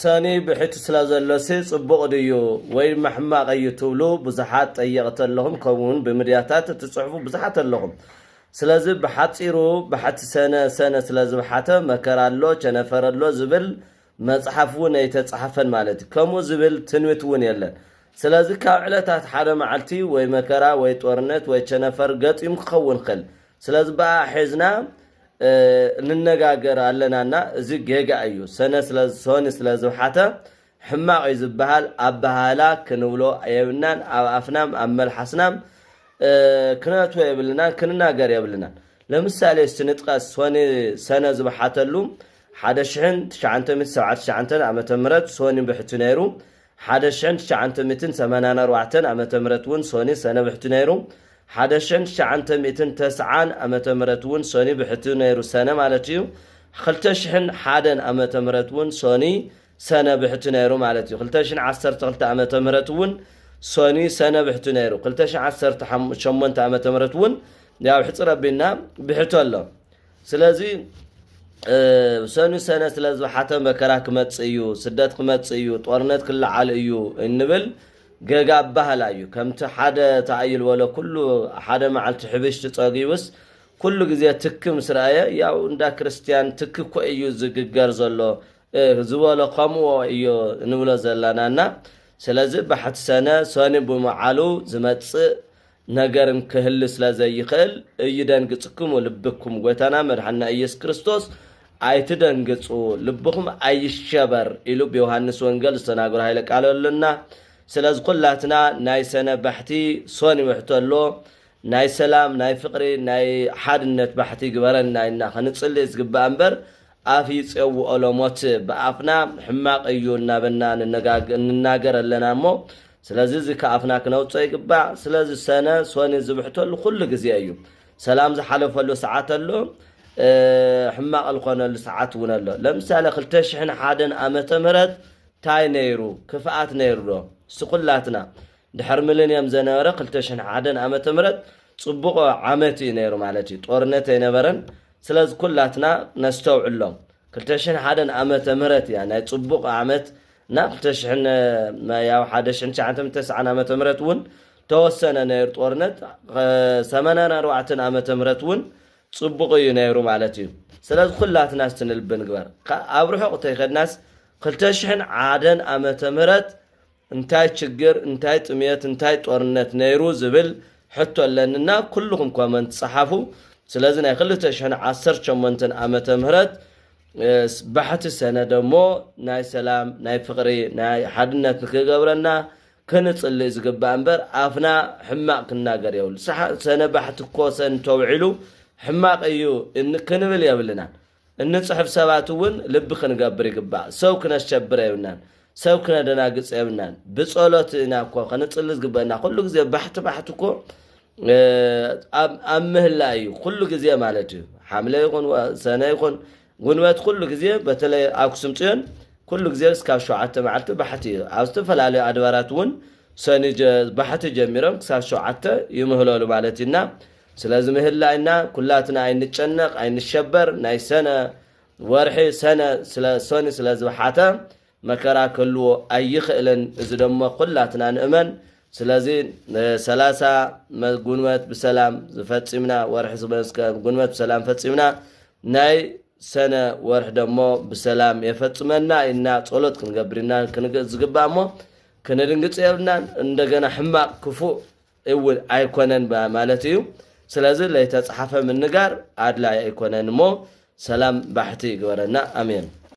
ሰኒ ብሕቲ ስለ ዘሎሲ ጽቡቕ ድዩ ወይ ድማ ሕማቕ እዩ ትብሉ ብዙሓት ጠየቕቲ ኣለኹም ከምኡ ውን ብምድያታት እትጽሕፉ ብዙሓት ኣለኹም ስለዚ ብሓጺሩ ባሕቲ ሰነ ሰነ ስለ ዝብሓተ መከራ ኣሎ ቸነፈር ኣሎ ዝብል መጽሓፍ ውን ኣይተጻሓፈን ማለት እዩ ከምኡ ዝብል ትንቢት ውን የለን ስለዚ ካብ ዕለታት ሓደ መዓልቲ ወይ መከራ ወይ ጦርነት ወይ ቸነፈር ገጢሙ ክኸውን ይኽእል ስለዚ ብኣኣ ሒዝና ንነጋገር ኣለና እና እዚ ጌጋ እዩ ሰነ ሶኒ ስለ ዝውሓተ ሕማቅ እዩ ዝብሃል ኣባሃህላ ክንብሎ የብናን ኣብ ኣፍናም ኣብ መልሓስናም ክነትወ የብልናን ክንናገር የብልናን ለምሳሌ እስቲ ንጥቀስ ሶኒ ሰነ ዝብሓተሉ ሓደ ሽሕን ትሽዓንተ ሚእቲ ሰብዓተ ትሽዓንተ ዓመተ ምህረት ሶኒ ብሕቲ ነይሩ ሓደ ሽሕን ትሽዓንተ ሚእትን ሰማንያን ኣርባዕተን ዓመተ ምህረት እውን ሶኒ ሰነ ብሕቲ ነይሩ። ሓደ ሽሕን ትሽዓንተ ሚእትን ተስዓን ዓመተ ምህረት እውን ሶኒ ብሕቲ ነይሩ ሰነ ማለት እዩ። ኽልተ ሽሕን ሓደን ዓመተ ምህረት እውን ሶኒ ሰነ ብሕቲ ነይሩ ማለት እዩ። ኽልተ ሽሕን ዓሰርተ ኽልተ ዓመተ ምህረት እውን ሶኒ ሰነ ብሕቲ ነይሩ። ኽልተ ሽሕን ዓሰርተ ሸሞንተ ዓመተ ምህረት እውን ያው ሕፅር ኣቢልና ብሕቲ ኣሎ። ስለዚ ሰኑ ሰነ ስለ ዝበሓተ መከራ ክመጽእ እዩ፣ ስደት ክመጽእ እዩ፣ ጦርነት ክለዓል እዩ እንብል ገጋ ኣባህላ እዩ። ከምቲ ሓደ ተኣይ ዝበሎ ኩሉ ሓደ መዓልቲ ሕብሽቲ ጸጊቡስ ኩሉ ግዜ ትኪ ምስ ረኣየ ያው እንዳ ክርስትያን ትኪ እኮ እዩ ዝግገር ዘሎ ዝበሎ ከምኡ እዩ ንብሎ ዘላናና ስለዚ ባሕቲ ሰነ ሰኑ ብመዓሉ ዝመጽእ ነገርን ክህሊ ስለ ዘይክእል እይደንግጽክሙ ልብኩም ጎይታና መድሓንና ኢየሱስ ክርስቶስ ኣይትደንግጹ ልብኹም ኣይሸበር ኢሉ ብዮሃንስ ወንገል ዝተናገሮ ሃይለ ቃል ኣሎና ስለዚ ኩላትና ናይ ሰነ ባሕቲ ሶኒ ውሕቶ ኣሎ ናይ ሰላም ናይ ፍቅሪ ናይ ሓድነት ባሕቲ ግበረና ኢልና ክንጽሊ ዝግባእ እምበር ኣፍ ይጼውኦ ሎሞት ብኣፍና ሕማቅ እዩ እናበልና ንናገር ኣለና እሞ ስለዚ እዚ ከኣፍና ክነውጾ ይግባእ ስለዚ ሰነ ሶኒ ዝብሕተሉ ኩሉ ግዜ እዩ ሰላም ዝሓለፈሉ ሰዓት ኣሎ ሕማቅ ልኾነሉ ሰዓት እውን ኣሎ ለምሳሌ ክልተ ሽሕን ሓደን ኣመተ ምህረት ታይ ነይሩ ክፍኣት ነይሩ ዶ እስቲ ኩላትና ድሕር ምልንየም ዘነበረ ክልተ ሽሕን ሓደን ኣመተ ምህረት ጽቡቆ ዓመት እዩ ነይሩ ማለት እዩ ጦርነት ኣይነበረን ስለዝ ኩላትና ነስተውዕሎም ክልተ ሽሕን ሓደን ኣመተ ምህረት እያ ናይ ጽቡቅ ኣመት እና ክልተ ሽሕን ያው ሓደ ሽሕን ትሽዓንተ ተስዓን ኣመተ ምህረት እውን ተወሰነ ነይሩ ጦርነት ሰመናን ኣርባዕተን ኣመተ ምህረት እውን ጽቡቅ እዩ ነይሩ ማለት እዩ ስለዚ ኩላትና ስትንልቢ ንግበር ኣብ ርሑቅ ተይከድናስ ክልተ ሽሕን ዓደን ኣመተ ምህረት እንታይ ችግር እንታይ ጥምየት እንታይ ጦርነት ነይሩ ዝብል ሕቶ ኣለኒ እና ኩሉኹም ኮመንት ጸሓፉ ስለዚ ናይ ክልተ ሽሕን ዓሰርተ ሸሞንተን ዓመተ ምህረት ባሕቲ ሰነደ እሞ ናይ ሰላም ናይ ፍቕሪ ናይ ሓድነት ንክገብረና ክንጽልእ ዝግባእ እምበር ኣፍና ሕማቕ ክናገር የብሉ ሰነ ባሕቲ እኮ ሰን ተውዒሉ ሕማቕ እዩ ክንብል የብልናን እንጽሕፍ ሰባት እውን ልቢ ክንገብር ይግባእ። ሰው ክነሸብር የብልናን። ሰብ ክነደናግጽ የብልናን። ብጸሎት ኢና እኮ ከንጽሊ ዝግበእና። ኩሉ ግዜ ባሕቲ ባሕቲ እኮ ኣብ ምህላ እዩ። ኩሉ ግዜ ማለት እዩ። ሓምለ ይኹን ሰነ ይኹን ጉንበት ኩሉ ግዜ በተለይ ኣክሱም ጽዮን ኩሉ ግዜ እስካብ ሸውዓተ መዓልቲ ባሕቲ እዩ። ኣብ ዝተፈላለዩ ኣድባራት እውን ሰኒ ባሕቲ ጀሚሮም ክሳብ ሸውዓተ ይምህለሉ ማለት እዩና ስለዚ ምህላይ እና ኩላትና ኣይንጨነቅ ኣይንሸበር ናይ ሰነ ወርሒ ሰነ ስለ ሶኒ ስለ ዝብሓተ መከራ ከልዎ ኣይኽእልን እዚ ደሞ ኩላትና ንእመን ስለዚ ሰላሳ ጉንበት ብሰላም ዝፈጺምና ወርሒ ዝመስከ ጉንበት ብሰላም ፈጺምና ናይ ሰነ ወርሒ ደሞ ብሰላም የፈጽመና ኢና ጸሎት ክንገብር ኢና ዝግባእ እሞ ክንድንግጽ የብልናን እንደገና ሕማቕ ክፉእ እው ኣይኮነን ማለት እዩ ስለዚ ለይተፅሓፈ ምንጋር ኣድላይ ኣይኮነን እሞ ሰላም ባሕቲ ይግበረና ኣሜን።